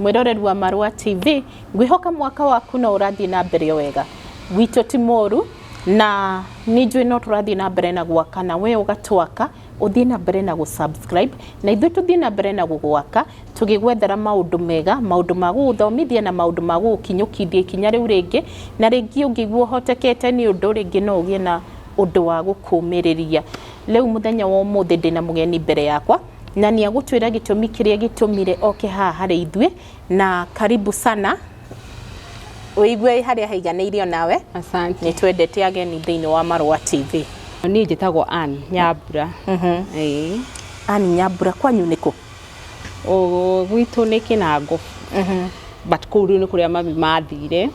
mwĩrorerwa marwa tv ngwihoka mwaka waku no ũrathiĩ na mbere wega gwitũ ti mũru na nĩ njũĩ no tũrathiĩ na mbere na gwaka na we ũgatwaka ũthiĩ na mbere na gũsubscribe na ithuĩ tũthiĩ na mbere na gũgwaka tũgĩgwethera maũndũ mega maũndũ ma gũgũthomithia na maũndũ ma gũgũkinyũkithia ikinya rĩu rĩngĩ na rĩngĩ ũngĩguo ũhotekete nĩ ũndũ rĩngĩ no ũgĩe na ũndũ wa gũkũmĩrĩria rĩu mũthenya wa ũmũthĩ ndĩna mũgeni mbere yakwa na nĩ agũtwĩra gĩtũmi kĩrĩa gĩtũmire oke haha harĩ ithuĩ na karibu sana ũigue harĩa haiganĩire onawe Asante. nĩ twendete ageni thĩinĩ wa marũa tv Niĩ njĩtagwo Ann Nyambura. Ĩĩ. ani nyambura kwanyu nĩkũ Ũ- Gwitũ nĩ Kĩnango. But kũu rĩu nĩ kũrĩa mami mathire.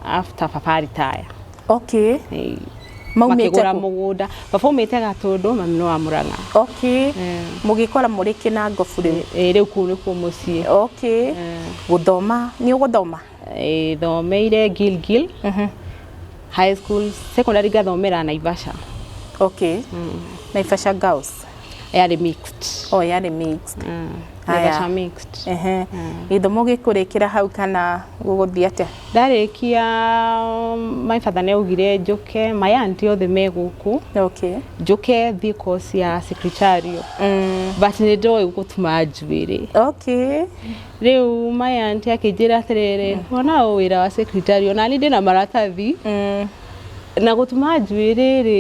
After baba retire. okay Eh, Maumĩte makĩgũra kũ? mũgũnda baba umĩte gatũndũ mami nĩ wa mũrang'a okay Eh. mũgĩkora mũrĩ kĩnangobu rĩu Eh, rĩu kũu nĩkuo mũciĩ okay Eh. gũthoma nĩ ũgũthoma Eh, thomeire gilgil Mhm. high school secondary ngathomera naivasha okay naivasha girls yarĩ mixed o yarĩ mixed mm. Naivasha mixed ehe mm. ithomo gĩkũrĩkĩra hau kana gũgũthiĩ atĩa ndarĩkia um, my father nĩ augire njũke my aunt othe me gũkũ okay njũke thiĩ course ya secretarial mm. but nĩ ndoĩ gũtuma njuĩrĩ okay rĩu my aunt akĩnjĩra atĩrĩrĩ mm. wona wĩra wa secretarial na niĩ ndĩna maratathi mm. na gũtuma njuĩrĩ rĩ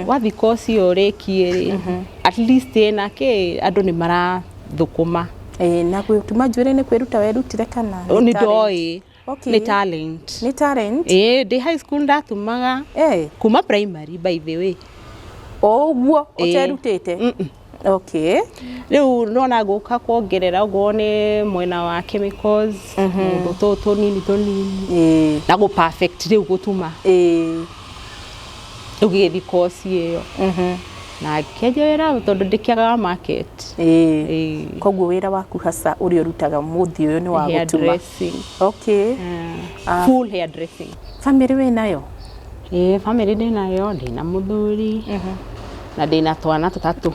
wathika ũcio ũrĩkie rĩ at least ĩna kĩ andũ nĩ marathũkũma Ĩĩ, na gũtuma njuĩrĩ nĩ kwĩruta werutire kana nĩ nĩ talent? ndoĩ Okay. nĩ talent nĩ talent ĩĩ ndĩ high school ndatumaga Eh, kuma primary by the way o ũguo Ĩĩ. ũterutĩte Mm-mm. okay rĩu nona ngũka kuongerera okorwo nĩ mwena wa chemicals mũndũ tũ tũnini tũnini ĩĩ na gå perfect rĩu gũtuma ĩĩ rĩu gĩgĩthi koci ĩyo mhm na ngĩkenja wĩra tondũ ndĩkĩagaga market ĩĩ Ĩĩ. koguo wĩra waku hasa ũrĩa ũrutaga mũthĩ ũyũ nĩ wa gũtuma Hairdressing. okay Ah. Full hairdressing. famĩrĩ wĩ nayo Ĩĩ bamĩrĩ ndĩnayo, ndĩna mũthuri na ndĩna twana tũtatũ.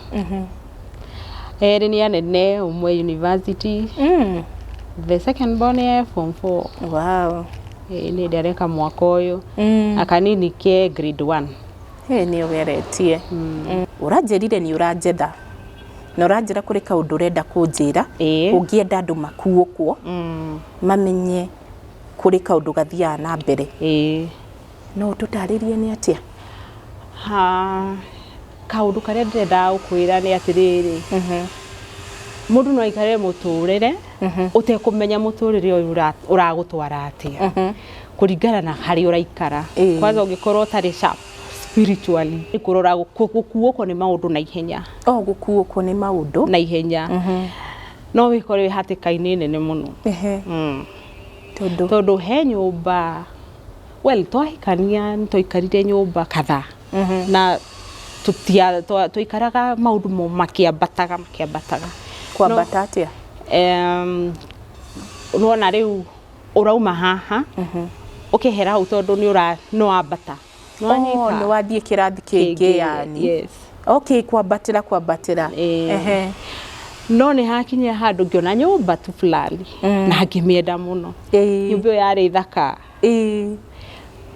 Erĩ nĩ anene, ũmwe e university, the second born e form four. Ĩĩ nĩ hĩndĩ areka mwaka ũyũ, na kanini ke grade one. Hĩĩ nĩ ũgeretie. Ũranjĩrire nĩ ũranjetha na ũranjĩra kũrĩ kaũndũ ũrenda kũnjĩra ũngĩenda andũ makuũkwo mamenye. kũrĩ kaũndũ gathiaga na mbere. Ĩĩ. No ũtũtarĩrie nĩ atĩa? Ha, kaũndũ karĩa ndĩrendaga gũkwĩra nĩ atĩrĩrĩ, mũndũ no aikare mũtũrĩre ũtekũmenya mũtũrĩre ũyũ ũragũtwara atĩa kũringana na harĩa ũraikara. Kwanza ũngĩkorwo ũtarĩ sharp spiritually, nĩ kũrora gũkuũkwo nĩ maũndũ na ihenya. Oo gũkuũkwo nĩ maũndũ? Na ihenya. No wĩkore wĩ hatĩka-inĩ nene mũno. Tondũ? Tondũ he nyũmba, well twahikania nĩ twaikarire nyũmba kadhaa na tũtia, twaikaraga maũndũ makĩambataga makĩambataga. Kwambata atĩa? Em, nĩ wona rĩu ũrauma haha ũkehera hau tondũ nĩ ũra, nĩ wambata. Nĩwanyita? Oh, nĩwathiĩ kĩrathi kĩngĩ Kĩngĩ, yani yes. okay kwambatĩra kwambatĩra Eh. Ehe. no nĩ hakinyire handũ ngĩona nyũmba tu fulani Mm. na ngĩmĩenda mũno Ĩĩ. nyũmba ĩyo yarĩ thaka Ĩĩ.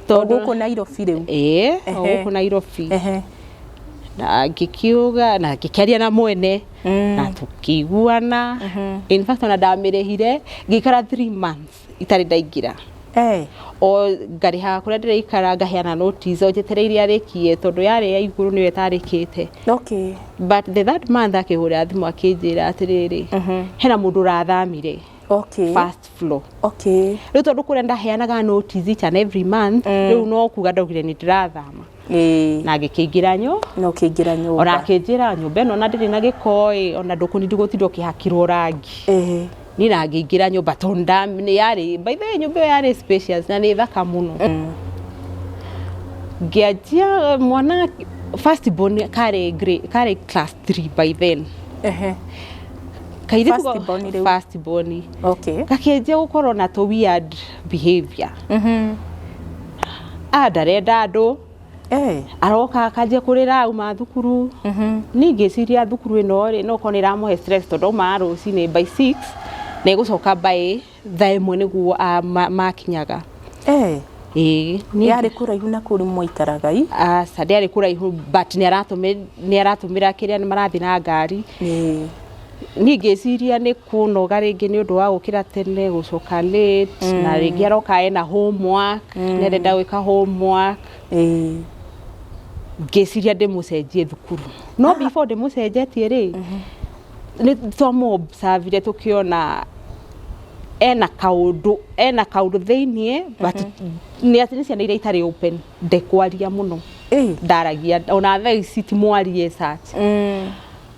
Tondũ- gũkũ nairobi rĩu ĩĩ o Ehe. gũkũ nairobi Ehe. na ngĩkiuga na ngĩkĩaria na mwene Mm. na tũkĩiguana in fact ona ndamĩrĩhire ngĩikara three months itarĩ ndaingĩra Eh, o ngarĩha kũrĩa ndĩraikara ngaheana notice o njetereire iria arĩkie tondũ yarĩ ya igũrũ nĩyo ĩtarĩkĩte okay. but the third month akĩhũrĩra thimũ akĩnjĩra atĩrĩrĩ hena mũndũ ũrathamire Okay. first floor Okay. rä u tondå kå rä a ndaheanaga notice each and every month rä u no kuga ndaugire nä ndärathama Ĩĩ. na ngĩkĩingĩra nyũ na ũkĩingĩra nyũmba ona akĩnjĩra nyũmba ĩno ona ndĩrĩ na gĩkoĩ ona ndũkũnindi gũtinda ũkĩhakirwo rangi Ĩĩ. niĩ na ngĩingĩra nyũmba tondũ nda- nĩ yarĩ by the way nyũmba ĩyo yarĩ spacious na nĩ thaka mũno ngĩanjia mwana first born karĩ grade- karĩ class 3 by then Ehe. Kairĩtu First ga- born rĩu. first born. Okay. gakĩanjia gũkorwo na tũ weird behavior ah ndarenda andũ Eh. aroka akanjia kurira auma thukuru ni ngiciria thukuru ino ri no kona iramuhe stress tondu aumaga rucini by 6 na igucoka by thaa imwe niguo ah, ma- makinyaga Eh. ii ni Yarĩ kũraihu na kũrĩ mwaikaraga i. aca ndiarĩ kuraihu but nä aratå mä ra kä rä a nä marathiä na ngari Eh. niä ngä ciria nä kũnoga rĩngĩ nĩ ũndũ wa gũkĩra tene gũcoka late mm. na rĩngĩ aroka ena homework mm. nerenda gwĩka homework mm. ngĩciria ndĩmũcenjie thukuru no ah. before ndĩmũcenjetie rĩ mhm. nĩ twamũobsavire tũkĩona ena kaundu ena kaundu thiini but mhm. ni ati ni ciana iria itari open ndekwaria muno ndaragia ona thaa ici ti mwarie such mm.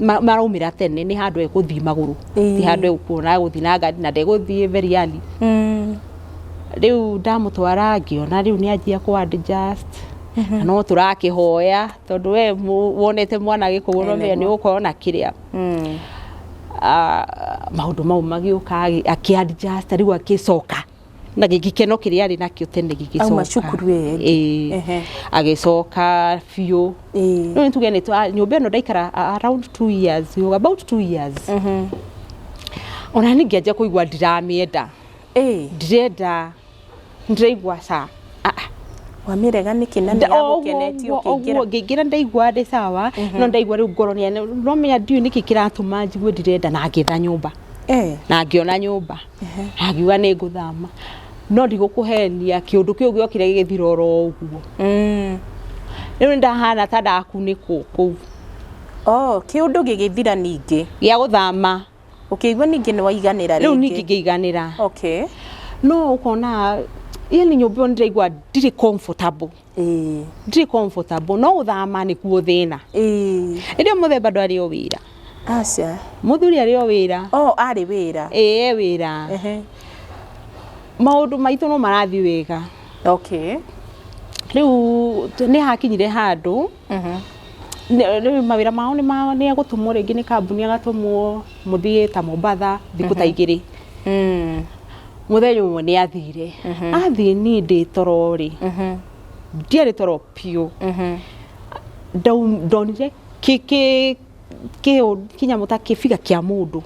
ma- maraumĩra tene nĩ handũ egũthiĩ magũrũ Ĩĩ. ti handũ egũkuona egũthiĩ na ngari na ndegũthiĩ very early Mm. rĩu ndamũtwara ngĩona rĩu nĩ anjia kũ adjust na no tũrakĩhoya tondũ we mũ- wonete mwana gĩkũgũ no menya nĩ ũgũkorwo na kĩrĩa Mm. Ah, maũndũ mau magĩũka agĩ- akĩ adjust rĩu agĩcoka na gĩkeno kĩrĩa arĩ nakĩo tene gĩgĩcoka Auma cukuru ĩyo ĩngĩ. Ĩĩ. Ehe. agĩcoka biũ Ĩĩ. rĩu nĩtuge nĩ twa- nyũmba ĩno ndaikara a- around two years yo, about two years ona niĩ ngĩanjia kũigua ndiramĩenda Ĩĩ. ndirenda ndiraigua ca Wamĩrega nĩkĩ na nĩ yagũkenetie ũkĩingĩra? Oguo ngĩingĩra ndaiguaga ndĩ sawa no ndaigua rĩu ngoro nĩ ũramenya ndiũĩ nĩkĩ kĩratũma njigue ndirenda na ngĩetha nyũmba na ngĩona nyũmba na ngiuga nĩ ngũthama no ndigũkũhenia kĩũndũ kĩu gĩokire gĩgĩthira oro ũguo. Rĩu nĩ ndahana ta ndakunĩkwo kũu. Kĩũndũ gĩgĩthira ningĩ? Gĩa gũthama. Ũkĩigua ningĩ nĩ waiganĩra rĩngĩ. Rĩu ningĩ ngĩiganĩra. Okay. No ũkona yani nyũmba ĩyo ndĩraigua ndirĩ comfortable. Ĩĩ. Ndirĩ comfortable. No gũthama nĩkuo thĩna. Ĩĩ. Ĩndĩ mũthemba ndwarĩ o wĩra. Aca. Mũthuri arĩ o wĩra. O arĩ wĩra. Ĩĩ wĩra. Maũndũ maitũ no marathiĩ wega. Okay. Rĩu nĩ hakinyire handũ. Rĩu mawĩra mao nĩ ma nĩ gũtũmwo rĩngĩ nĩ kambuni agatũmwo mũthiĩ ta Mombatha thikũ ta igĩrĩ. Mũthenya ũmwe nĩ athire, athiĩ niĩ ndĩ toro rĩ, ndiarĩ toro biũ, ndonire kĩ kĩ kĩnyamũ ta kĩbiga kĩa mũndũ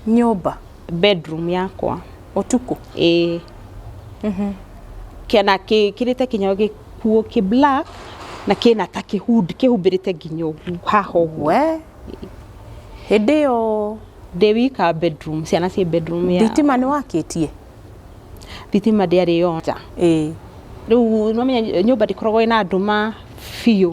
nyũmba bedroom yakwa ũtukũ ĩĩ na gĩkĩrĩte nginya gĩkuo kĩ black na kĩna ta kĩ hood kĩhumbĩrĩte nginya ũguo haha ũguo we hĩndĩ ĩyo ndĩ wika bedroom ciana ciĩ bedroom ya thitima nĩ wakĩtie thitima ndĩarĩ yonja ĩĩ rĩu nĩwamenya nyũmba ndĩkoragwo ĩna ndũma biũ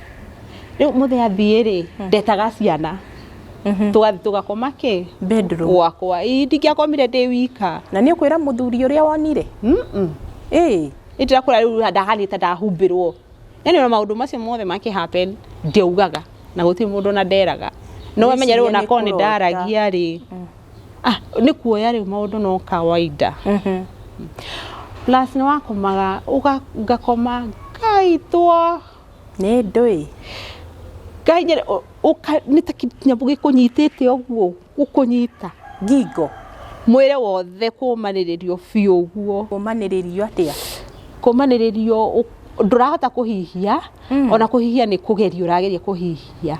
Rĩu mũthĩ athiĩ rĩ, ndetaga ciana. Tũgathi tũgakoma kĩ? Bedroom. Gwakwa. Ii, ndingĩakomire ndĩ wika. Na nĩ ũkwĩra mũthuri ũrĩa wonire? Mm-mm. Ĩĩ. Nĩ ndĩrakũra rĩu ndahanĩte ndahumbĩrwo. Yaani ona maũndũ macio mothe makĩ happen, ndiaugaga. Na gũtirĩ mũndũ ona nderaga. No wamenya rĩu ona korwo nĩ ndaragia rĩ, ah, nĩ kuoya rĩu maũndũ no kawaida. Plus nĩ wakomaga, ũga, ngakoma, ngaitwo. Nĩ ndũĩ. Ngai nĩ ũka nĩ ta kĩnyamũ gĩkũnyitĩte ũguo, gũkũnyita ngingo, mwĩrĩ wothe kũmanĩrĩrio biũ ũguo. Kũmanĩrĩrio atĩa? Kũmanĩrĩrio ndũrahota kũhihia, ona kũhihia nĩ kũgerio ũrageria kũhihia.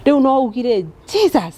Rĩu no ugire Jesus!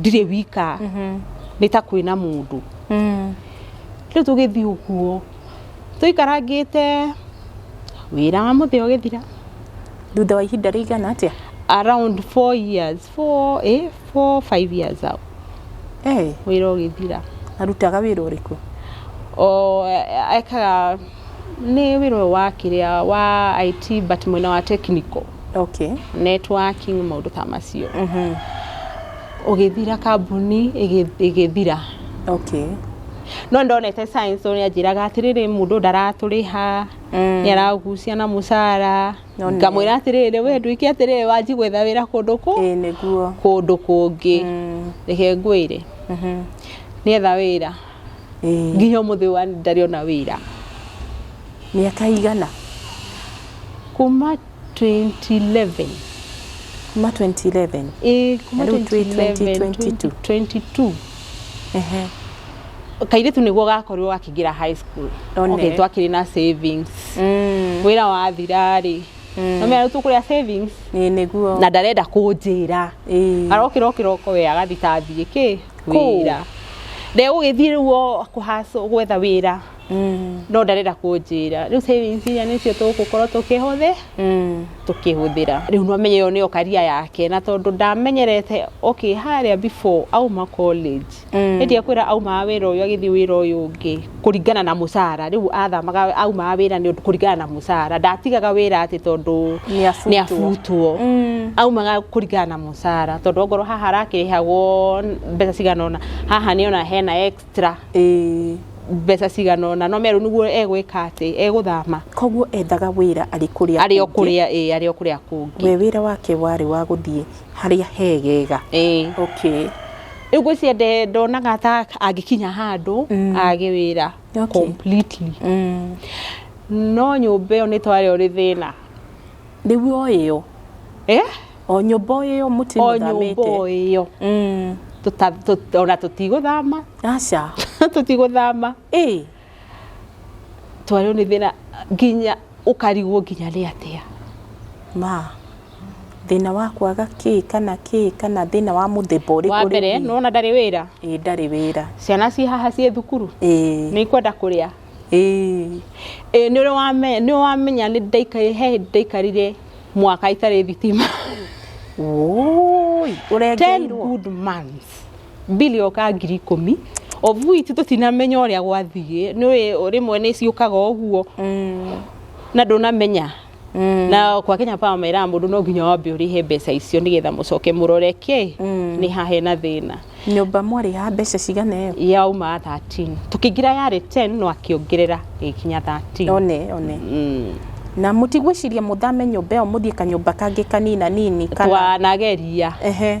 ndirĩ wika nĩ ta kwĩna mũndũ rĩu tũgĩthiĩ ũguo tũikarangĩte wĩra wa mũthĩ ũgĩthira thutha wa ihinda rĩigana atĩa around four years four, eh, four, five years out Eh, wĩra ũgĩthira arutaga wĩra ũrĩkũ o eh, ekaga Nĩ wĩra ũyũ wa kĩrĩa wa IT but mwena wa technical. Okay. Networking maũndũ ta macio. Mhm. Ũgĩthira kambuni ĩgĩthira. Okay. No ndonete science ũrĩa anjĩraga atĩrĩrĩ mũndũ ndaratũrĩha mm. nĩ aragucia na mũcara ngamwĩra atĩrĩrĩ we ndwĩke atĩrĩrĩ wanji gwetha wĩra kũndũ kũ kũndũ kũngĩ mm. reke ngwĩre mm-hmm. nĩetha wĩra nginya ũmũthĩ wa ndarĩ ona wĩra mĩaka igana kuma 2011 kuma 2011 ĩĩ kuma Na rĩu twĩ 2022. 2022 ehe kairĩtu nĩguo gakorirwo gakĩingĩra high school One. okay, twakĩrĩ na savings Mm, wĩra wathirarĩ Mm. no mĩarĩtu kũrĩa savings ĩĩ nĩguo na ndarenda kũnjĩra ĩĩ arokĩra okĩroko we agathita athiĩ kĩ wĩra ndegũgĩthiĩ rĩu o kũhacũ gwetha wĩra mm. no ndarenda kũnjĩra rĩu savings iria nĩcio tũgũkorwo tũkĩhũthĩ mm. tũkĩhũthĩra rĩu no menye yo nĩyo karia yake na tondũ ndamenyerete okay harĩa before auma college mm. nĩndiekwĩra aumaga wĩra ũyũ agĩthiĩ wĩra ũyũ ũngĩ kũringana na mũcara rĩu athamaga aumaga wĩra nĩ ũndũ kũringana na mũcara ndatigaga wĩra atĩ tondũ Nĩ abutwo. nĩ abutwo aumaga kũringana na mũcara tondũ ongorwo haha arakĩrĩhagwo mbeca cigana ũna haha nĩ ona hena extra Ĩĩ. mbeca cigana ũna no merwo nĩguo egwĩka atĩ egũthama koguo ethaga wĩra arĩ kũrĩa arĩ o kũngĩ. kũrĩa ĩ arĩ o kũrĩa kũngĩ we wĩra wake warĩ wa gũthiĩ harĩa hegega Ĩĩ. okay rĩu ngwĩciria nde- ndonaga ta angĩkinya handũ age wĩra Okay. completely mm. no nyũmba ĩyo nĩ twarĩ ũrĩ thĩna rĩu o ĩyo Eh? o nyũmba o ĩyo mũtĩ o nyũmba mũthamĩte o ĩyo Mm. Tũta- tũ- ona tũtigũthama aca tũtigũthama ĩ twarĩo nĩ thĩna nginya ũkarigwo nginya nĩ atĩa. Ma, thĩna wa kwaga kĩ kana kĩ kana thĩna wa mũthemba ũrĩkũ? Wa mbere, nĩ wona ndarĩ wĩra? Ĩĩ ndarĩ wĩra. Ciana ciĩ haha ciĩ thukuru? Ĩĩ. Nĩ ikwenda kũrĩa? Ĩĩ. Ĩĩ nĩ ũrĩ nĩ wamenya nĩ ndaikarire he hĩndĩ ndaikarire mwaka itarĩ thitima? Wũũi, ũrengeirwo? Ten good months. mbiri o ka ngiri ikũmi obu itu tũtinamenya ũrĩa gwathiĩ nĩũĩ rĩmwe nĩ ciũkaga ũguo na ndũnamenya na kwa Kenya Power meraga mũndũ no nginya wambe ũrĩhe mbeca icio nĩgetha mũcoke mũrore kĩ nĩ ha hena thĩna nyũmba mwarĩha mbeca cigana ĩyo yauma 13 tũkĩingĩra yarĩ 10 no akĩongerera ĩgĩkinya 13 one one Mm. na mũtigwĩciria mũthame nyũmba ĩyo mũthiĩ kanyũmba kangĩ kanina nini kana twanageria ehe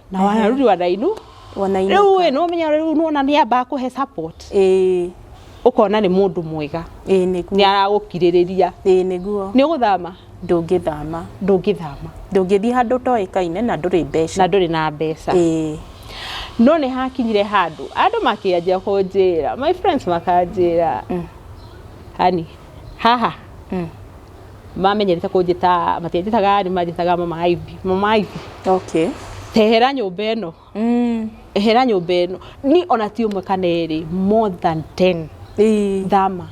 na wa rudi wa nainu wanainũka. rĩu ĩ nĩwamenya rĩu nĩwona nĩambaga kũhe support Ĩĩ, ũkona nĩ mũndũ mwega ĩĩ nĩ nĩguo aragũkirĩrĩria ĩĩ nĩguo nĩ ũgũthama ndũngĩthama ndũngĩthama ndũngĩthiĩ handũ ũtoĩkaine na ndũrĩ na mbeca ndũrĩ na mbeca Ĩĩ, no nĩ hakinyire handũ andũ makĩanjia kũnjĩra my friends makanjĩra hani Haha? Mm. Mamenyerete kũnjĩta, matianjĩtaga Ann, manjĩtaga mama Ivy. Mama Ivy, Okay. tehera nyũmba ĩno, Mm. ehera nyũmba ĩno. Ni ona ti ũmwe kana erĩ, more than 10. Ii. Thama.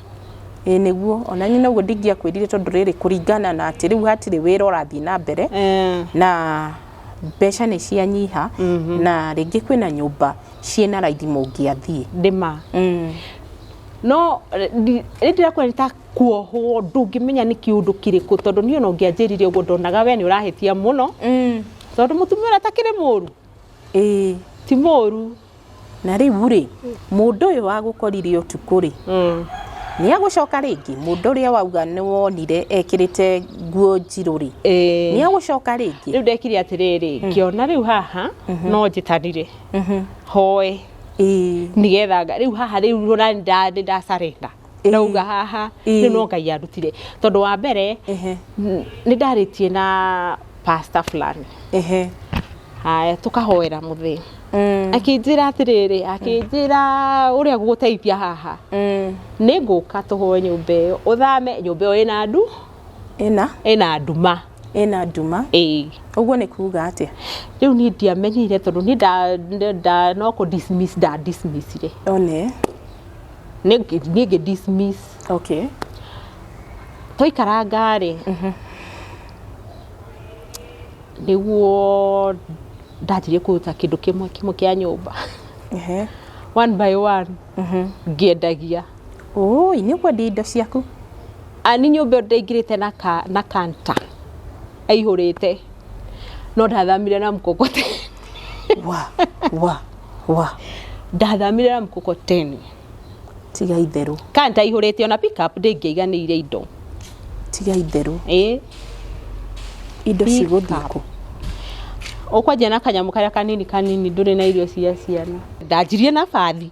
Ĩ nĩguo ona nyina ũguo ndingĩakwĩrire tondũ rĩrĩ kũringana na atĩ rĩu hatirĩ wĩra ũrathiĩ na mbere Eh, na mbeca nĩ cianyiha na rĩngĩ kwĩna nyũmba ciĩna raithi mũngĩathiĩ ndĩma. Mm. no rĩrĩa ndĩrakuona nĩ ta kuohwo ndũngĩmenya nĩ kĩũndũ kĩrĩkũ tondũ niĩ ona ũngĩanjĩrire ũguo ndonaga we nĩ ũrahĩtia mũno tondũ mũtumia ũrĩa atakĩrĩ mũru ĩĩ ti mũru na rĩu rĩ mũndũ ũyũ wagũkorire ũtukũ rĩ nĩ agũcoka rĩngĩ mũndũ ũrĩa wauga nĩ wonire ekĩrĩte nguo njirũ rĩ nĩ agũcoka rĩngĩ rĩu ndekire atĩrĩrĩ ngĩona rĩu haha no njĩtanire hoe Ĩĩ. nigetha nga- rĩu haha rĩu rũra nda- nĩ nda surrender. Ĩĩ. ndauga haha Ĩĩ. rĩu no ngai andutire tondũ wa mbere Ehe. n- nĩ ndarĩtie na pastor fulani Ehe. haya tũkahoera mũthĩ Mm. akĩnjĩra atĩrĩrĩ akĩnjĩra ũrĩa gũgũteithia haha Mm. nĩ ngũka tũhoe nyũmba ĩyo ũthame nyũmba ĩyo ĩna ndu ĩna ĩna nduma ĩna nduma ĩĩ ũguo nĩ kuga atĩa rĩu niĩ ndiamenyire tondũ niĩ nda- nda- nda- no kũ dismiss nda dismissire one niĩ ngĩ- niĩ ngĩ dismiss okay twaikaranga rĩ nĩguo ndanjirie kũruta kĩndũ kĩmwe kĩmwe kĩa nyũmba ehe one by one ngĩendagia Ũũi, nĩ ũkwendia indo ciaku? Ani nyũmba ĩyo ndĩraingĩrĩte na ka, na kanta. Aihũrĩte. No ndathamire na mkokoteni. Wa, wa, wa. Ndathamire na mkokoteni. Tiga itherũ, Kanta aihũrĩte ona pick up ndĩngĩaiganĩire indo. tiga itherũ. Ĩĩ. Indo Pick cigũthiĩ up. kũ? Ũkwanjia na kanyamũ karĩa kanini kanini ndũrĩ na irio cia ciana. Ndanjirie na bathi.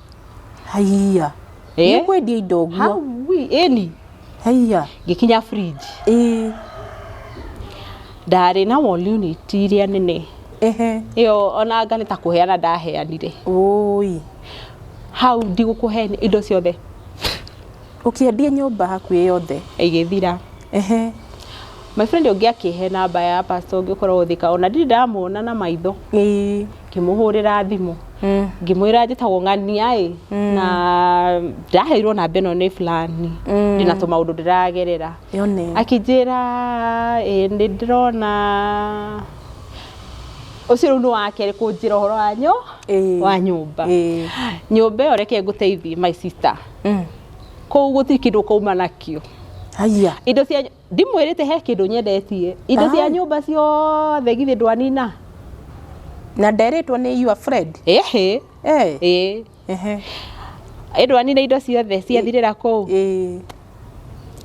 haiya Eh? nä kwendia indo guo Hawi, ĩni haiya ngĩkinya fridge ä ndarĩ na wall unit iria nene ehe ĩyo ona anga nĩ ta kũheana ndaheanire oi hau ndigũkũheni indo ciothe Ũkĩendie nyũmba hakuhĩ yothe. Ĩgĩthira. Ehe. My friend ũngĩ akĩhe namba ya pastor ũngĩ ũkoragwo Thika, ona ndirĩ ndamuona na maitho. Ĩĩ. Ngĩmũhũrĩra thimũ. Mm. Ngĩmwĩra njĩtagwo ng'ania ĩ, mm. na ndaheirwo namba ĩno nĩ fulani, mm. ndĩna tũmaũndũ ndĩragerera. Yone. Akĩnjĩra ĩ, nĩ ndĩrona ucio rä u nä wakerä kå njä ra å horo wa nyå wa nyå mba nyå mba ä yo reke ngå teithie my sister kũu gũtirĩ kĩndũ ũkauma nakĩo haiya indo cia ndimwĩrĩte he kĩndũ nyendetie indo cia nyũmba ciothe githĩ ndwanina na nderĩtwo nĩ your friend ĩhĩ eh ĩĩ ehe ĩ ndwanina indo ciothe ciathirĩra kũu eh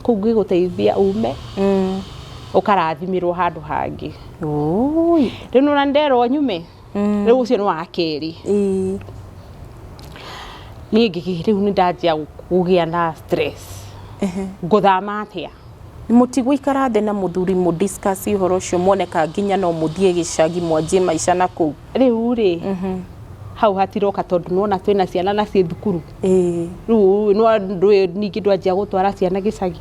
kũu ngĩgũteithia ume mm ũkarathimĩrwo handũ hangĩ ũi rĩu nĩwona nderwo nyume mm. rĩu ũcio nĩ wa kerĩ mm. niĩ ngĩgĩ rĩu nĩ ndanjia kũgĩa na stress ngũthama atĩa mũtigũikara thĩ na mũthuri mũ discuss ũhoro ũcio mwoneka nginya no mũthiĩ gĩcagi mwanjie maica na kũu rĩu rĩ mhm. hau hatiroka tondũ nona twĩna ciana na ciĩ thukuru rĩu ningĩ ndwanjia gũtwara ciana gĩcagi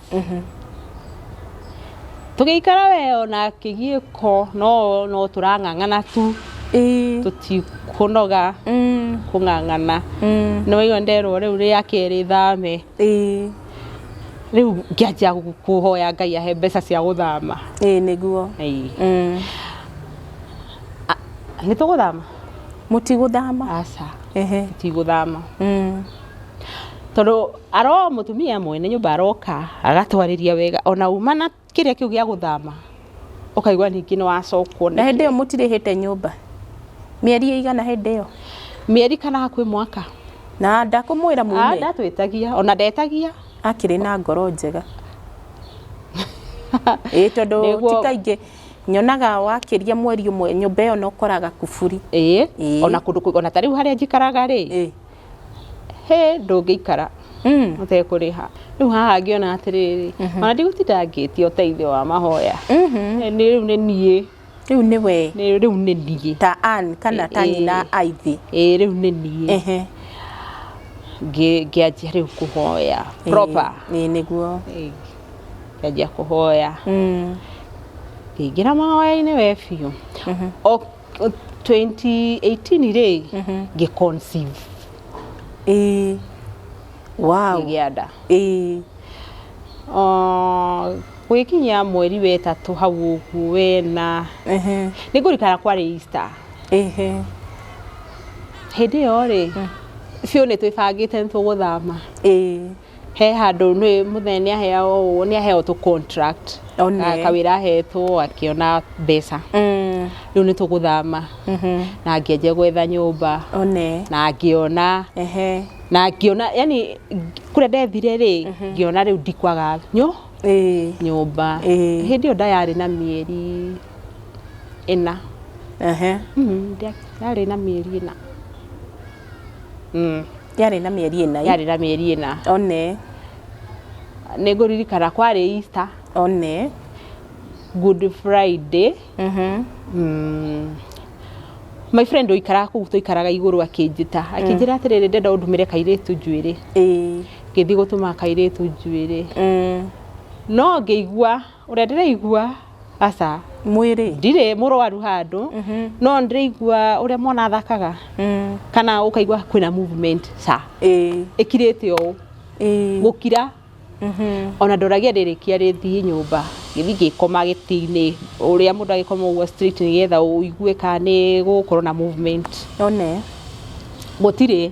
Tũgĩikara we ona kĩgiĩko no no tũrang'ang'ana tu Ĩĩ. tũtikũnoga Mm. kũng'ang'ana Mm. nĩ waigua nderwo rĩu rĩa kerĩ thame Ĩĩ. rĩu ngĩanjia gũ- kũhoya ngai ahe mbeca cia gũthama Ĩĩ nĩguo. Ĩĩ. Mm. nĩ tũgũthama Mũtigũthama. aca Ehe. tigũthama Mm. Tondũ ara o mũtumia mwene nyũmba aroka agatwarĩria wega ona uma na kĩrĩa kĩu gĩa gũthama ũkaigua ningĩ nĩ wacokwo nĩ. Na hĩndĩ ĩyo mũtirĩhĩte nyũmba? Mĩeri ĩigana hĩndĩ ĩyo? Mĩeri kana hakuhĩ mwaka. Na ndakũmwĩra mume? Ah, ndatwĩtagia, ona ndetagia. Akĩrĩ na ngoro njega. Ĩĩ tondũ ti kaingĩ nyonaga wakĩria mweri ũmwe nyũmba ĩyo na ũkoraga kuburi. Ĩĩ, ona kũndũ, ona ta rĩu harĩa njikaraga rĩ, hĩ ndũngĩikara ũtekũrĩha rĩu haha ngĩona atĩrĩrĩ ona ndigũtinda ngĩtia ũteithio wa mahoya nĩ rĩu nĩ niĩ rĩu nĩ we nĩ- rĩu nĩ niĩ ta Ann kana ta Eh, eh. nyina aithĩ ĩĩ rĩu nĩ niĩ Ehe. Ngĩ- ngĩanjia rĩu kũhoya Ĩĩ, proper ĩĩ, nĩguo Ĩĩ, ngĩanjia kũhoya Mm. ngĩingĩra mahoya-inĩ we biũ O- 2018 rĩ ngĩ conceive ĩĩ wow ngĩgĩa nda ĩĩ Ah, gwĩkinyia mweri wetatũ hau ũguo wena ehe nĩ ngũrikana kwarĩ Easter ehe hĩndĩ ĩyo rĩ biũ nĩ twĩbangĩte nĩ tũgũthama ĩĩ he handũ nĩ mũthee nĩ aheaga ũũ nĩ aheaga tũ contract One. Ah, kawĩra ahetwo akĩona mbeca rĩu nĩ tũgũthama na ngĩanjia gwetha nyũmba one na ngĩona ehe na ngĩona yani kũrĩa ndethire rĩ ngĩona rĩu ndikwaga nyũ ĩĩ nyũmba Ĩĩ. hĩndĩ ĩyo nda yarĩ na mĩeri ĩna ehe Mm, nda- yarĩ na mĩeri ĩna Mm. Yarĩ na mĩeri ĩna. yarĩ na mĩeri ĩna One, nĩ ngũririkana kwarĩ Easter one. Good Friday Mhm. mm, my friend ũikaraga kũu tũikaraga igũrũ akĩnjĩta akĩnjĩra atĩrĩrĩ ndenda ũndũmĩre kairĩtu njuĩrĩ Ĩĩ. ngĩthiĩ gũtũma kairĩtu njuĩrĩ Mm. no ngĩigua Ũrĩa ndĩraigua aca mwĩrĩ ndirĩ mũrwaru handũ no ndĩraigua ũrĩa mwana athakaga kana ũkaigua kwĩna movement ca ĩĩ ĩkirĩte ũũ ĩĩ gũkira ona ndoragia rĩrĩkia rĩthiĩ nyũmba gĩthiĩ ngĩkoma gĩtĩ-inĩ ũrĩa mũndũ agĩkoma ũguo straight nĩgetha ũigue kana nĩ gũgũkorwo na movement one gũtirĩ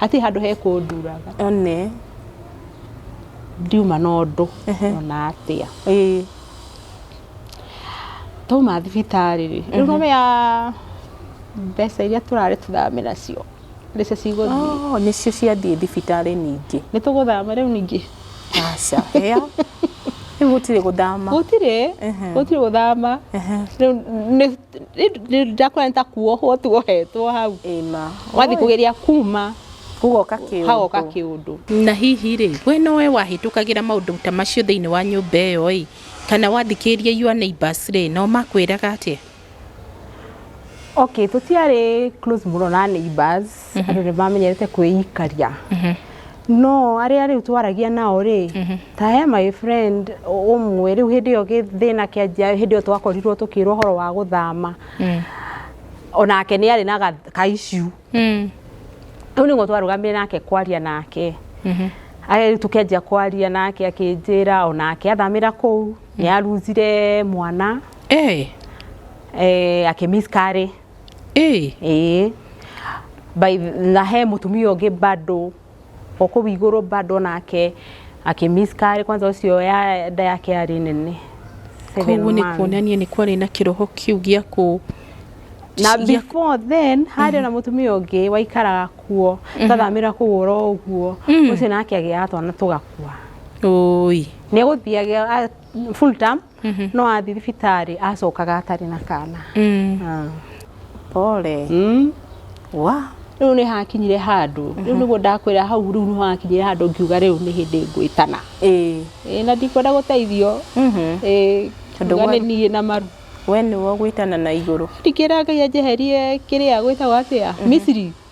Hatirĩ handũ hekũnduraga. One. Ndiuma na ũndũ ona atĩa. Twauma thibitarĩ rĩ, rĩu nĩwamenya mbeca iria tũrarĩ tũthame nacio nĩcio cigũthiĩ. Oh, nĩcio ciathiĩ thibitarĩ ningĩ. Nĩ tũgũthama rĩu ningĩ. Aca, hĩa. Rĩu gũtirĩ gũthama. Gũtirĩ, gũtirĩ gũthama. Rĩu nĩ ndakwona ta kuohwo tuohetwo hau Ĩma. wathiĩ kũgeria kuma Gugoka kĩũndũ. hagoka kĩũndũ na hihi rĩ we nowe wahĩtũkagĩra maũndũ ta macio thĩinĩ wa nyũmba ĩyo ĩ kana wathikĩrĩria your neighbors rĩ nao makwĩraga atĩa Okay, tũtiarĩ close mũno na neighbors. andå nä mamenyerete kwĩikaria no arĩa rĩu twaragia nao rĩ ta he my friend ũmwe rĩu hĩndĩ ĩyo gĩthĩna kĩanjia hĩndĩ ĩyo twakorirwo tũkĩrwo ũhoro wa gũthama onake nĩ arĩ na ga- ka issue rĩu nĩguo twarũgamire nake kwaria nake Aya rĩu tũkĩanjia kwaria nake akĩnjĩra onake athamĩra kũu nĩ aruzire mwana eh, akĩ miscarry Ĩĩ. Ĩĩ. By na he mũtumia ũngĩ bado o kũu igũrũ bado nake akĩmiskari kwanza ũcio ya nda yake yarĩ nene Seven koguo nĩ months. kuonania nĩ kwarĩ na kĩroho kĩu gĩa kũ na gĩa- before then harĩ ona mũtumia ũngĩ waikaraga kuo tathamĩra kũu oro ũguo ũcio nake agĩaga twana tũgakua Ũi. nĩ egũthiaga full term Mhm. no athiĩ thibitarĩ acokaga atarĩ na kana Mm. Ah. pole Mm. wa rĩu nĩ hakinyire handũ rĩu nĩguo ndakwĩra hau rĩu nĩ hakinyire handũ ngiuga rĩu nĩ hĩndĩ ngwĩtana ĩĩ Ĩĩ, na ndikwenda gũteithio Mhm. Ĩĩ, Tondũ ngiuga gwa- nĩ niĩ na maru we nĩwe ũgwĩtana na igũrũ ndikĩra ngai anjeherie kĩrĩa gwĩtagwo atĩa misiri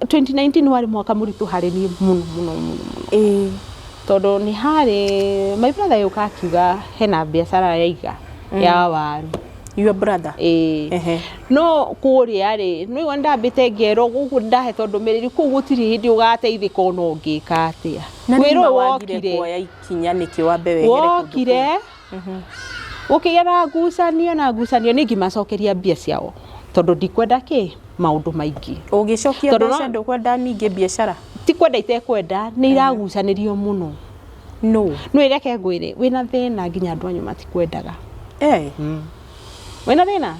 2019 warĩ mwaka mũritũ harĩ niĩ mũno mũno mũno mũno ĩĩ tondũ nĩ harĩ my brother yũka akiuga hena biacara yaiga ya waru your brother ĩĩ ehe no kũrĩa rĩ nĩ wona ndambĩte ngero gũkũ ndahetwo ndũmĩrĩri kũu gũtirĩ hĩndĩ ũgateithĩka ona ũngĩka atĩa na wĩra nĩ ũyũ wagire wokire kuoya ikinya nĩkĩ wambe wehere kũndũ kũu? wokire gũkĩgĩa na ngucanio na ngucanio nĩ ngimacokeria mbia ciao tondũ ndikwenda kĩ maũndũ maingĩ ũngĩcokia Tondũ mbeca no- ndũkwenda ningĩ biacara ti kwenda itekwenda nĩ iragucanĩrio mũno no nĩ reke ngwĩre wĩna thĩna nginya andũ anyu matikwendaga eh wĩna thĩna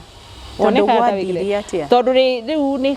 Tondũ Wonekaga ta gwathiire wĩkĩre- atĩa? tondũ rĩ- rĩu nĩ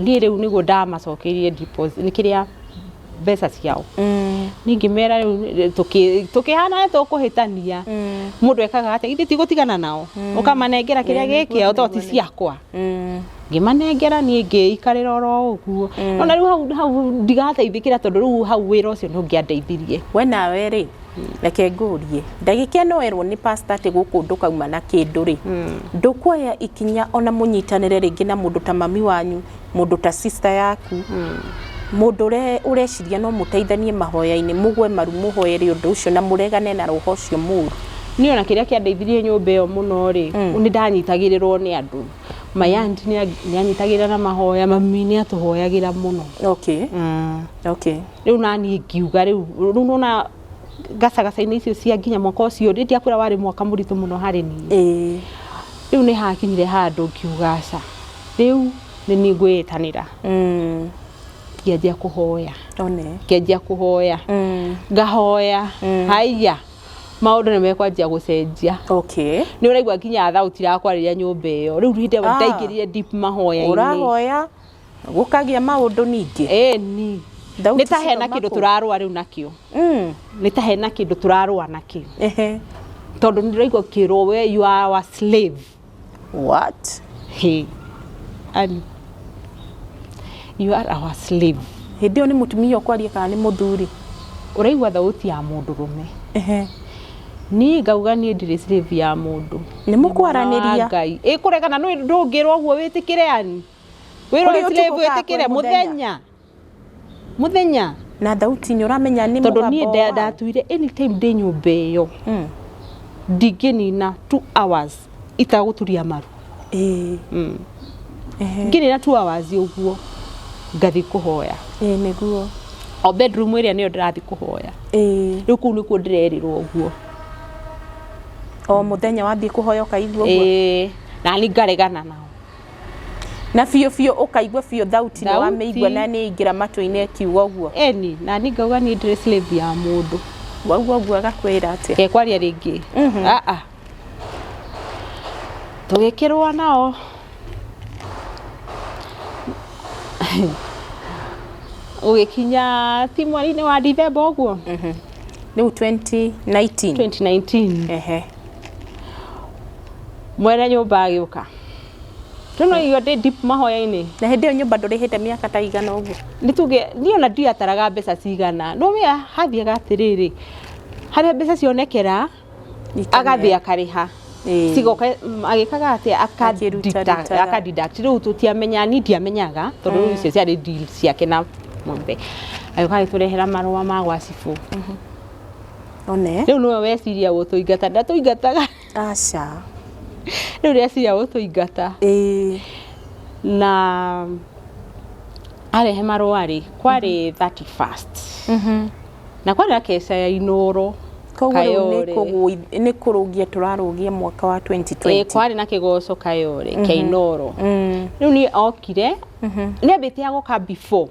niĩ rĩu nĩguo ndamacokeirie deposit nĩ kĩrĩa mbeca ciao ningĩ mera rĩu tũkĩ- tũkĩhana nĩ tũkũhĩtania mũndũ ekaga atĩa ithe tigũtigana nao ũkamanengera kĩrĩa Ĩĩ, nĩ gĩkĩao to ti kuonania. ciakwa Mm. ngĩmanengera niĩ ngĩikarĩra oro ũguo ona rĩu hau- hau ndigateithĩkĩra tondũ rĩu hau wĩra ũcio ndũngĩandeithirie we nawe rĩ reke ngũrie ndagĩka ĩno werwo nĩ pasta atĩ gũkũ ndũkauma na kĩndũ rĩ ndũkuoya ikinya ona mũnyitanĩre rĩngĩ na mũndũ ta mami wanyu mũndũ ta sister yaku mũndũ ũre- ũreciria no mũteithanie mahoya-inĩ mũgwe maru mũhoere ũndũ ũcio na mũregane na roho ũcio mũru niä ona kä rä a kä andeithirie nyå mba ä yo må no rä nä ndanyitagä rä rwo nä andå mayandi nä anyitagä rä ra na mahoya mami nä atå hoyagä ra må no okay okay rĩu naniĩ ngiuga rĩu rĩu nĩwona gacagaca-inĩ icio cia nginya mwaka ũcio rĩ ndiakwĩra warĩ mwaka mũritũ mũno harĩ niĩ ĩĩ rĩu nĩ hakinyire handũ ngiuga aca rĩu nĩ niĩ ngwĩĩtanĩra Mm. ngĩanjia kũhoya one ngĩanjia kũhoya Mm. ngahoya Mm. haiya maũndũ nĩ mekwanjia gũcenjia okay nä å raigua nginya thauti rakwa rä rä a nyå mba ä yo rä u hä ndä Ah. ndaingä rire deep mahoya-inä ũrahoya gũkagĩa maũndũ ningĩ ĩni Thauti nĩ ta hena cikauma kĩndũ kũ? tũrarũa rĩu nakĩo Mm, nĩ ta hena kĩndũ tũrarũa nakĩo ehe. tondũ nĩ ndĩraigua kĩrwo we you are our slave what hey. Ali, you are our slave hĩndĩ ĩyo nĩ mũtumia ũkwaria kana nĩ mũthuri ũraigua thauti ya mũndũ rũme Ehe. niĩ ngauga niĩ ndirĩ slave ya mũndũ Nĩ mũkwaranĩria. Wa Ngai. ĩkũregana nĩ ndũngĩrwo ũguo wĩtĩkĩre ani Wĩra Kũrĩ ũyũ ũtukũ kaa tũrĩbwĩtĩkĩre kwĩ mũthenya? mũthenya mũthenya na thauti nĩ ũramenya nĩ tondũ niĩ mũgambo nda- wa- ndatuire anytime ndĩ nyũmba ĩyo Mm. ndingĩnina two hours itagũturia maru Ĩĩ, Mm. ehe. ngĩnina two hours ũguo ngathiĩ kũhoya Ĩĩ, nĩguo o bedroom ĩrĩa nĩyo ndĩrathiĩ kũhoya Ĩĩ. rĩu kũu nĩkuo ndĩrerirwo ũguo o mũthenya wathiĩ kũhoya ũkaigua ũguo Ĩĩ, na nĩ ngaregana nao na biũ biũ ũkaigua biũ thauti nĩ wamĩigua na nĩ ingĩra matũ-inĩ ĩkiuga ũguo eni na ni ngauga ni ndĩrĩ slave ya mũndũ wauga ũguo agakwĩra atĩa ke kwaria rĩngĩ Mhm. aa tũgĩkĩrũa nao ũgĩkinya ti mweri-inĩ wa ndithemba ũguo rĩu 2019 2019 ehe mwene nyũmba agĩũka rĩu no irio ndĩ deep mahoya-inĩ na hĩndĩ ĩyo nyũmba ndũrĩhĩte mĩaka ta igana ũguo nĩ tuge niĩ ona ndiataraga mbeca cigana no wĩa hathiaga atĩrĩrĩ harĩa mbeca cionekera agathiĩ akarĩha Ĩĩ. cigoka m- agĩkaga atĩ Akĩruta, rutaga. akadeduct rĩu tũtiamenya ni ndiamenyaga tondũ rĩu icio ciarĩ deal ciake na mũmbe agĩũka agĩtũrehera marũa ma gwa cibũ one rĩu nĩwe weciria gũtũingata ndatũingataga Aca. Rĩu rĩaciria gũtũingata. Ĩĩ. Na arehe marũa-rĩ, kwarĩ mhm. thirty first. Mhm. Na kwarĩ na keca ya Inoro. Koguo rĩu nĩ kũrũgia tũrarũgia mwaka wa 2020. Ĩĩ kwarĩ na kĩgoco Kayole kĩa mhm. Inoro. Rĩu niĩ okire, nĩ ambĩtie agoka before.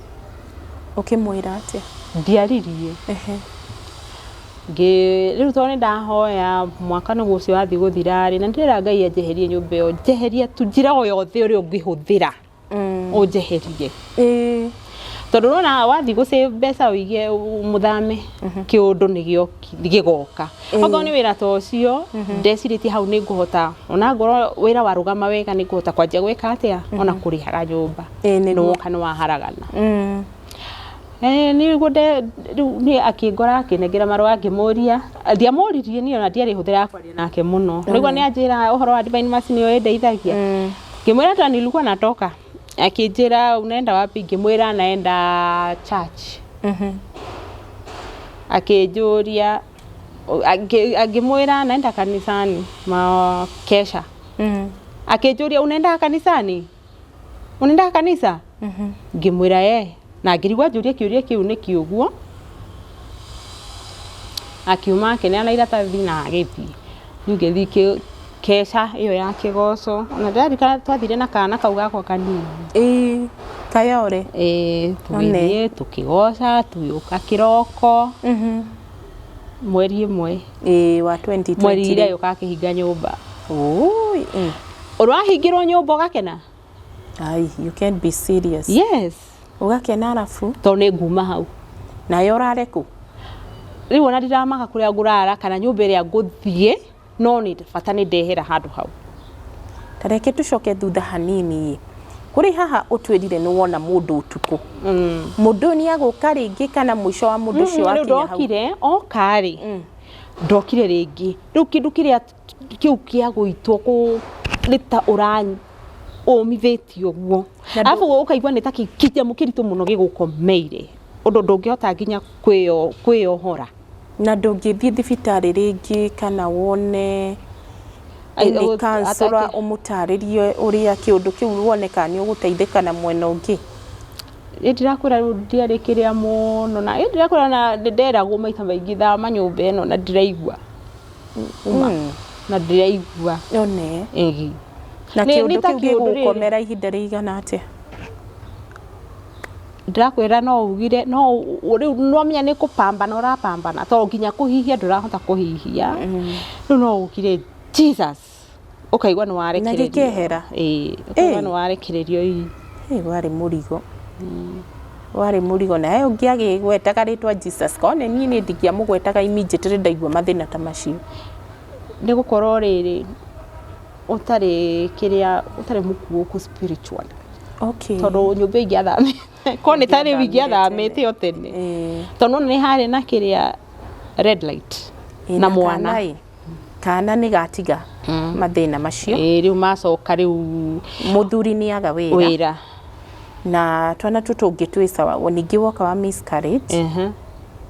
Ũkĩmwĩra atĩa? Ndiaririe. Ehe. Rĩu tondũ nĩ ndahoya, mwaka nĩguo ũcio wathiĩ gũthira rĩ, na ndĩrera Ngai anjeherie nyũmba ĩyo. Njeheria tu, njĩra o yothe ĩrĩa ũngĩhũthĩra ũnjeherie. Tondũ nĩ wona wathiĩ gũ save mbeca ũige mũthame, kĩũndũ nĩ gĩgoka. Okorwo nĩ wĩra ta ũcio, ndecirĩtie hau nĩ ngũhota, ona ngorwo wĩra warũgama wega nĩ ngũhota kwanjia gwĩka atĩa? Ona kũrĩhaga nyũmba. Ĩĩ nĩguo. nĩwoka nĩwaharagana Mm. Eh, nĩguo nde- rĩu niĩ akĩngora akĩnengera marũa ngĩmũria ndiamũririe niĩ ona ndiarĩ hũthĩra ya kwaria nake mũno nĩguo nĩanjĩra ũhoro wa divine mercy nĩyo ĩndeithagia Mm. ngĩmwĩra hata nilikuwa natoka akĩnjĩra unaenda wapi ngĩmwĩra naenda church Mhm. akĩnjũria akĩ- akĩmwĩra naenda kanisani makesha Mm. akĩnjũria unaenda kanisani unaenda kanisa ngimwira eh na ngirigwa njurie kiuria kiu niki uguo akiuma akineana iratathi na agithii riu ngithii ki- keca iyo ya kigoco na ndirarikana twathire na kana kau gakwa kanini ĩĩ kayore Eh, tũgĩthiĩ tũkĩgoca tũgĩũka kĩroko Mhm. mweri ĩmwe ĩĩ wa 2020 mweri ira yũka akĩhinga nyũmba Ui, eh. ũrahingĩrwo nyũmba ũgakena Ai, you can't be serious yes ũgakena arabu tondũ nĩ nguma hau nayo ũrare kũ rĩu ona ndiramaka kũrĩa ngũrara kana nyũmba ĩrĩa ngũthiĩ no bata nĩ ndehera handũ hau. Ta reke tũcoke thutha hanini-ĩ, kũrĩ haha ũtwĩrire nĩ wona mũndũ ũtukũ. Mũndũ ũyũ nĩ egũka rĩngĩ kana mũico wa mũndũ ũcio wakinya hau? Rĩu ndokire, oka-rĩ, ndokire rĩngĩ. Rĩu kĩndũ kĩrĩa kĩu kĩa gũitwo nĩ ta ũmithĩtio ũguo. Arabu ũkaigua nĩ ta kĩnyamũ kĩritũ mũno gĩgũkomeire ũndũ ndũngĩhota nginya kwĩyohora. Na ndũngĩthiĩ thibitarĩ rĩngĩ kana wone Ai- any ũ- counselor atake- ũmũtarĩrie ũrĩa kĩũndũ kĩu wone kana nĩ ũgũteithĩka na mwena ũngĩ. Ĩ ndĩrakwĩra rĩu ndiarĩ kĩrĩa mũno na ĩ ndĩrakwĩra na nĩnderagwo maita maingĩ thama nyũmba ĩno na ndiraigua. Uma. Na ndiraigua. One. Ĩhi. Na Nĩ- kĩũndũ nĩ ta kĩu kĩũndũ rĩrĩ. gĩgũgũkomera ihinda rĩigana atĩa? ndĩrakwĩra no ugire no rĩu nĩwamenya nĩ kũpambana ũrapambana to nginya kũhihia ndũrahota kũhihia rĩu no ugire jesus ũkaigua nĩ Na gĩkehera. warekererio Ĩĩ, ũkaigua Ĩĩ. nĩ warekererio ii Ĩ, warĩ mũrigo warĩ mũrigo nawe ũngĩ agĩgwetaga rĩtwa jesus korwo nĩ niĩ nĩ ndingĩamũgwetaga immediately ndaigua mathĩna ta macio nĩ gũkorwo rĩrĩ, ũtarĩ kĩrĩa, ũtarĩ mũkuũku spiritually. Okay. Tondũ nyũmba ingĩathamĩte, korwo nĩ ta rĩu ingĩathamĩte o tene. Tondũ nĩ wona nĩ harĩ na kĩrĩa red light na mwana. Kana nĩ gatiga mathĩna macio. Ĩĩ rĩu macoka rĩu. Mũthuri nĩ aga wĩra. Wĩra. na twana tũ tũngĩ twĩ sawa O ningĩ woka wa miscarriage Ehe.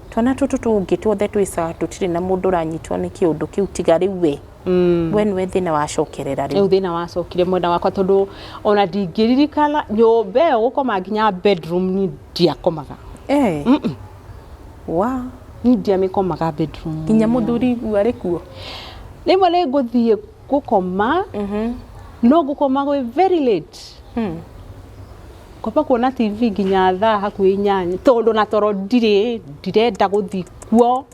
twana tũtũ tũngĩ tuothe twĩ sawa tũtirĩ na mũndũ ũranyitwo nĩ kĩũndũ kĩu tiga rĩu we Mm. we nĩwe thĩna wacokerera rĩu rĩu thina wacokire mwena wakwa tondu ona ndingĩririkana nyũmba ĩyo gũkoma nginya bedroom ni ndiakomaga Eh. wa ni ndiamĩkomaga bedroom nginya mũthuri igu arĩ kuo rĩmwe nĩ ngũthiĩ gũkoma no ngũkoma gwĩ very late ngomba kuona tv nginya thaa hakuhĩ inyanya tondũ na toro ndirĩ ndirenda gũthiĩ kuo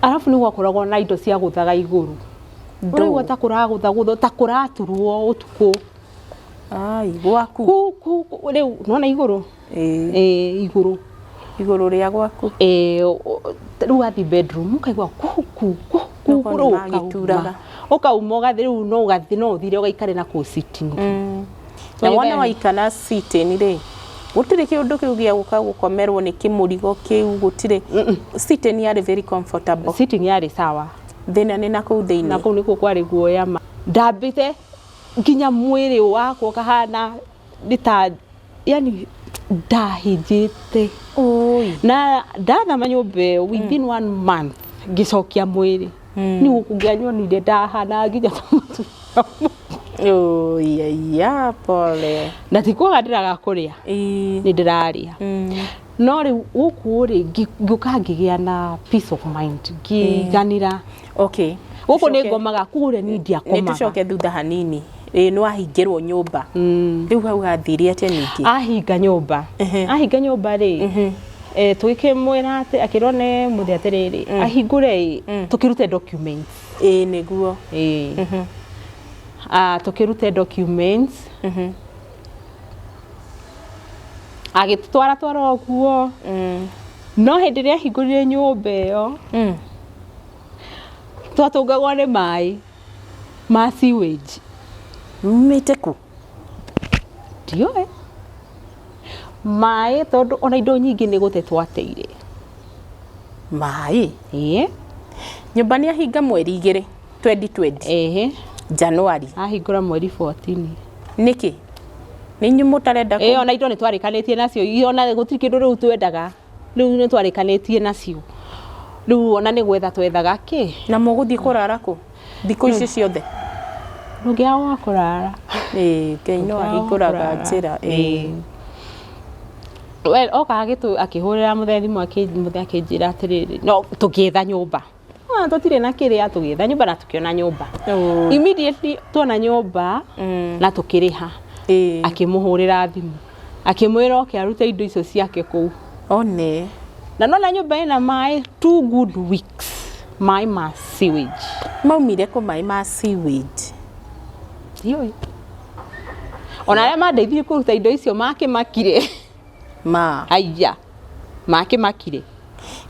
arabu nĩ gwakoragwo na indo cia gũthaga igũrũ ũraigua ta kũragũthagũthwo ta kũraturwo ũtukũ Ai, gwaku Kũ- kũ- kũ- rĩu nĩwona igũrũ ĩĩ igũrũ igũrũ rĩa gwaku ĩĩ rĩu wathiĩ bedroom ũkaigua ku ku ku ku Nĩguo rĩu ũkauma nĩmagĩturaga. ũkauma ũgathiĩ rĩu no ũgathiĩ no ũthire ũgaikare na kũu sitting na Nĩ wona thaa- waikara sitting rĩ gũtirĩ kĩũndũ kĩu gĩa gũka gũkomerwo nĩ kĩmũrigo kĩu gũtirĩ sitting yarĩ very comfortable sitting yarĩ sawa thĩna nĩ na kũu na thĩinĩ kũu nĩkuo kwarĩ guoya ma ndambĩte nginya mwĩrĩ wakwa ũkahana nĩ ta yani ndahĩnjĩte Oi. na ndathama nyũmba ĩyo within one month ngĩcokia mwĩrĩ nĩ gũkũ ngĩanyonire ndahana nginya ta mũtumia mũkũrũ. Oi, aiya, pole. na ti kwaga ndĩraga kũrĩa Ii. nĩ ndĩrarĩa Mm. no rĩu gũkũ rĩ ngĩ- ngĩũka ngĩgĩa na peace of mind ngĩiganĩra okay gũkũ nĩ Tũcoke- ngomaga kũrĩa niĩ nĩ ndiakomaga tũcoke thutha hanini ĩĩ nĩ wahingĩrwo nyũmba Mm. rĩu hau gathire atĩa ningĩ ahinga nyũmba Ehe. ahinga nyũmba rĩ Mhm. eh, tũgĩkĩmwĩra atĩ akĩrwo nĩ mũthĩ atĩrĩrĩ ahingũre ĩ tũkĩrute documents ĩĩ nĩguo ĩĩ Mhm. Ah, tũkĩrute documents Mhm. agĩtũtwara twara ũguo Mm. No hĩndĩ ĩrĩa ahingũrire nyũmba ĩyo mm. twatũngagwo nĩ maĩ ma sewage mumĩte kũ ndiũĩ maĩ tondũ ona indo nyingĩ nĩ gũte twateire maĩ ĩĩ nyũmba nĩ ahinga mweri igĩrĩ 2020 ehe January ahingũra mweri 14 nĩkĩ nĩ inyuĩ mũtarenda kũ- ĩyo ona indo nĩ twarĩkanĩtie nacio iyo ona gũtirĩ kĩndũ rĩu twendaga rĩu nĩ twarĩkanĩtie nacio rĩu ona nĩ gwetha twethaga kĩ na mũgũthiĩ kũrara kũ thikũ ici ciothe ndũngĩaga wa kũrara Ĩĩ, Ngai no Ndũngĩaga ahingũraga wa kũrara. njĩra Ĩĩ. We- oka agĩtũ- akĩhũrĩra mũthee thimũ akĩ- mũthee akĩnjĩra atĩrĩrĩ no tũgĩetha nyũmba Ah, tũtirĩ na kĩrĩa tũgĩetha nyũmba na tũkĩona nyũmba Oh. immediately tuona nyũmba Mm. na tũkĩrĩha Ĩĩ. akĩmũhũrĩra thimũ akĩmwĩra oke arute indo icio ciake kũu one na nona nyũmba ĩna maĩ two good weeks maĩ ma sewage maumire kũ maĩ ma sewage Ndiũĩ. ona arĩa mandeithirie kũruta indo icio makĩmakire ma aya makĩmakire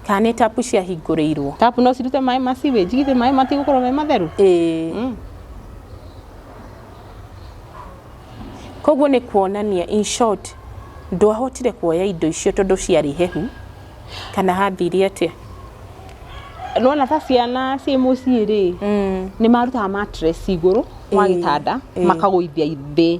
kana nĩ tapu ciahingũrĩirwo tapu no cirute maĩ ma sewage githĩ maĩ matigũkorwo me matheru ĩĩ Mm. koguo nĩ kuonania in short ndwahotire kuoya indo icio tondũ ciarĩ hehu kana hathire atĩa nona ta ciana ciĩ mũciĩ rĩ nĩ marutaga mattress igũrũ wa Ĩĩ, gĩtanda ĩĩ. makagũithia thĩ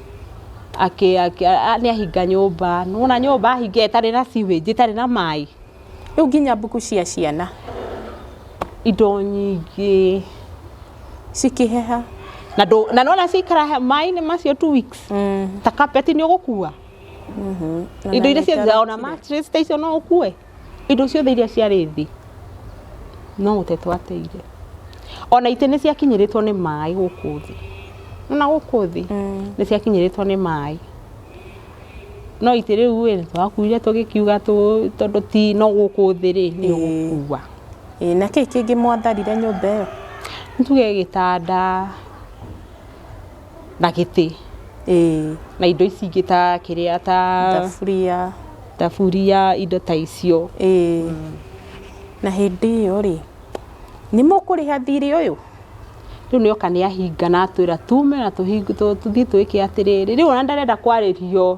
akĩ akĩ a- nĩahinga nyũmba nĩwona nyũmba ahinga ĩtarĩ na sewage ĩtarĩ na maĩ rĩu nginya mbuku cia ciana indo nyingĩ cikĩheha na ndũ- na nĩwona cikara he- maĩ-inĩ macio two weeks ta carpet nĩ ũgũkua indo iria ciothe ona mattress ta icio no ũkue Indo ciothe iria ciarĩ thĩ no gũte twateire. Ona itĩ nĩ ciakinyĩrĩtwo nĩ maĩ gũkũ thĩ. Nĩwona gũkũ thĩ nĩ ciakinyĩrĩtwo nĩ maĩ. No itĩ rĩu ĩ, nĩ twakuire tũgĩkiuga tondũ ti no gũkũ thĩ rĩ, nĩ ũgũkua. Ĩĩ. Na kĩĩ kĩngĩ mwatharire nyũmba ĩyo? Nĩ tuge gĩtanda. na gĩtĩ ĩĩ na indo ici ingĩ ta kĩrĩa ta thaburia thaburia indo ta icio ĩĩ na hĩndĩ ĩyo rĩ nĩ mũkũrĩha thirĩ ũyũ rĩu nĩ oka nĩ ahinga na atwĩra tume na tũthiĩ twĩke atĩrĩrĩ rĩu ona ndarenda kwarĩrio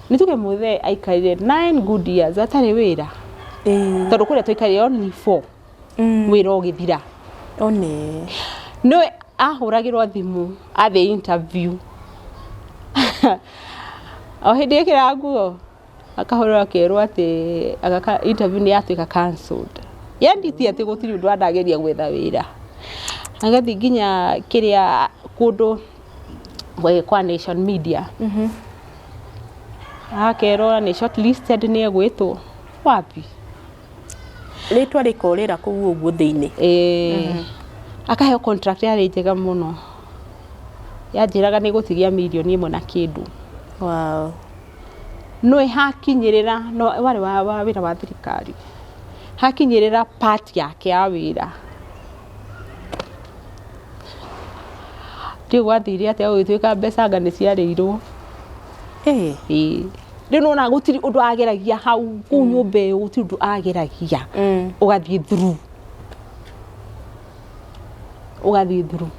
Nĩ tuge mũthee aikarire 9 good years atarĩ wĩra Ĩĩ. tondũ kũrĩa twaikarire only 4 Mm. wĩra ũgĩthira One. nĩwe ahũragĩrwo thimũ athiĩ interview o hĩndĩ ĩkĩra nguo akahũrĩrwo akerwo atĩ agaka interview nĩ yatuĩka cancelled yendi ti atĩ gũtirĩ ũndũ andageria gwetha wĩra agathiĩ nginya kĩrĩa kũndũ eh, kwa nation media akerwo nĩ shortlisted nĩ egwĩtwo wapi rĩtwa rĩkorĩra kũu ũguo thĩinĩ Eh, akaheo contract yarĩ njega mũno yanjĩraga nĩ gũtigia mirioni ĩmwe na kĩndũ wow. nĩ hakinyĩrĩra no warĩ wa, wa wĩra wa thirikari hakinyĩrĩra part yake ya wĩra Ndiũĩ gwathire atĩa gũgĩtuĩka mbeca anga nĩ ciarĩirwo. Rĩu nĩ wona gũtirĩ ũndũ ageragia hau kũu nyũmba ĩyo gũtirĩ ũndũ ageragia ũgathiĩ through. Ũgathiĩ through.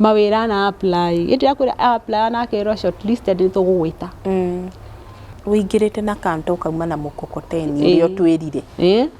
Mawĩra ana a apply ĩ. Hĩndĩ ĩrĩa akwĩra a apply na akerwo short listed nĩ tũgũgwĩta. Ũingĩrĩte na kanta ũkauma na mũkokoteni ũrĩa ũtwĩrire.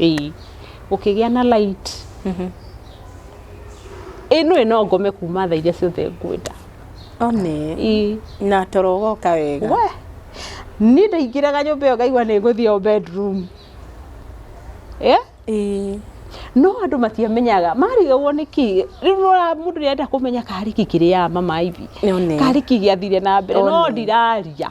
ĩĩ gũkĩgĩa na light ĩĩ no ĩno ngome kuma thaa iria ciothe ngwenda one ĩĩ na toro ũgoka wega we niĩ ndaingĩraga nyũmba ĩyo ngaigua nĩ ngũthiĩ o bedroom ĩĩ ĩĩ no andũ matiamenyaga marigagwo nĩkĩ rĩu nĩwona mũndũ nĩarenda kũmenya karĩki kĩrĩaga mama ivi Nĩone. karĩki gĩathire na mbere no One. ndiraria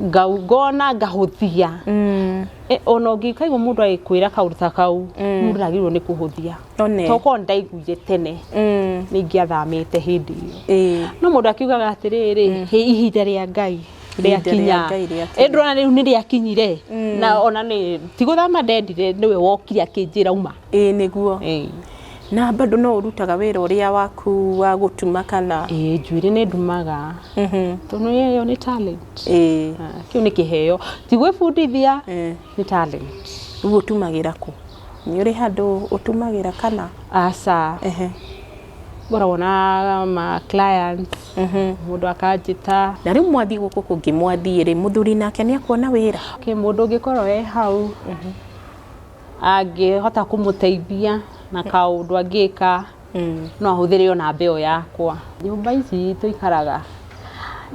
ngau- ngona ngahũthia Mm. Eh, ona ũngĩkaigua mũndũ agĩkwĩra kaũndũ ta kau mũndũ ndagĩrĩirwo nĩ kũhũthia One. tokorwo ndaiguire tene Mm. nĩ ingĩathamĩte hĩndĩ ĩyo Ĩĩ. no mũndũ akiugaga atĩrĩrĩ "Hĩ, ihinda rĩa ngai Ihinda rĩa rĩakinya Ngai rĩakinya." Ĩ, ndũrona rĩu nĩ rĩakinyire na ona nĩ ti gũthama ndendire nĩwe wokire akĩnjĩra uma ĩĩ nĩguo Ĩĩ. na bado no ũrutaga wĩra ũrĩa waku wa gũtuma kana Ĩĩ, njuĩrĩ nĩ ndumaga Mhm. tondũ ĩyo nĩ talent ĩĩ Ah, kĩu nĩ kĩheo ti gwĩbundithia Eh. nĩ talent rĩu ũtumagĩra kũ nĩ ũrĩ handũ ũtumagĩra kana aca Ehe. ngoragwo na ma clients Mhm. mũndũ akanjĩta na rĩu mwathiĩ gũkũ kũngĩ mwathiĩ rĩ mũthuri nake nĩ akuona wĩra Kĩ mũndũ ũngĩkorwo e hau angĩhota kũmũteithia na kaũndũ angĩka no ahũthĩre o namba ĩyo yakwa. Nyũmba ici tũikaraga,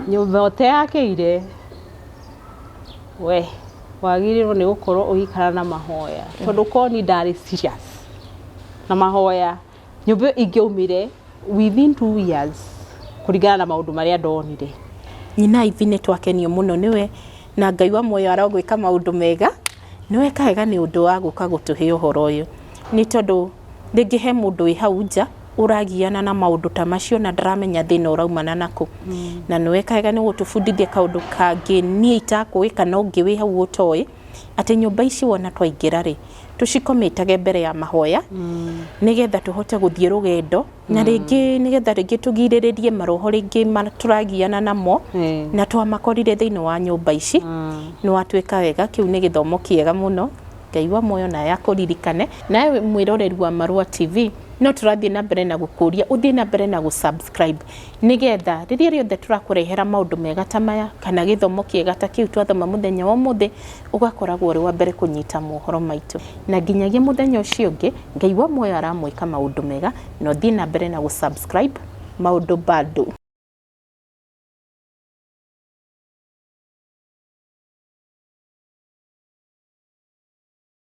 nyũmba ũteyakĩire we wagĩrĩirwo nĩ gũkorwo ũgĩikara na mahoya tondũ korwo niĩ ndarĩ serious na mahoya. Nyũmba ĩyo ingĩaumire within two years kũringana na maũndũ marĩa ndonire. Nyina Ivy nĩ twakenio mũno nĩwe na Ngai wa muoyo arogwĩka maũndũ mega. Nĩ weka wega nĩ ũndũ wa gũka gũtũhe ũhoro ũyũ. Nĩ tondũ rĩngĩ he mũndũ wĩ hau nja ũragiana na maũndũ ta macio na ndaramenya thĩna ũraumana na kũ. Na nĩ weka wega nĩ gũtũbundithia kaũndũ kangĩ niĩ itakũĩ kana ũngĩ wĩ hau ũtoĩ. atĩ nyũmba ici wona twaingĩra rĩ tũcikometage mbere ya mahoya mm. nĩgetha tũhote gũthiĩ rũgendo mm. na rĩngĩ nĩgetha rĩngĩ tũgirĩrĩrie maroho rĩngĩ tũragiana namo mm. na twamakorire thĩinĩ wa nyũmba ici mm. nĩ watuĩka wega kĩu nĩ gĩthomo kĩega mũno ngai wa muoyo naye akũririkane nawe mwĩroreri wa marũa tv no tũrathiĩ na mbere na gũkũria ũthiĩ na mbere na gũsubscribe Nĩgetha rĩrĩa rĩothe tũrakũrehera maũndũ mega ta maya, kana gĩthomo kĩega ta kĩu twathoma mũthenya wa ũmũthĩ, ũgakoragwo ũrĩ wa mbere kũnyita mohoro maitũ. Na nginyagia mũthenya ũcio ũngĩ, Ngai wa muoyo aramwĩka maũndũ mega, na ũthiĩ na mbere na gũ subscribe maũndũ bado.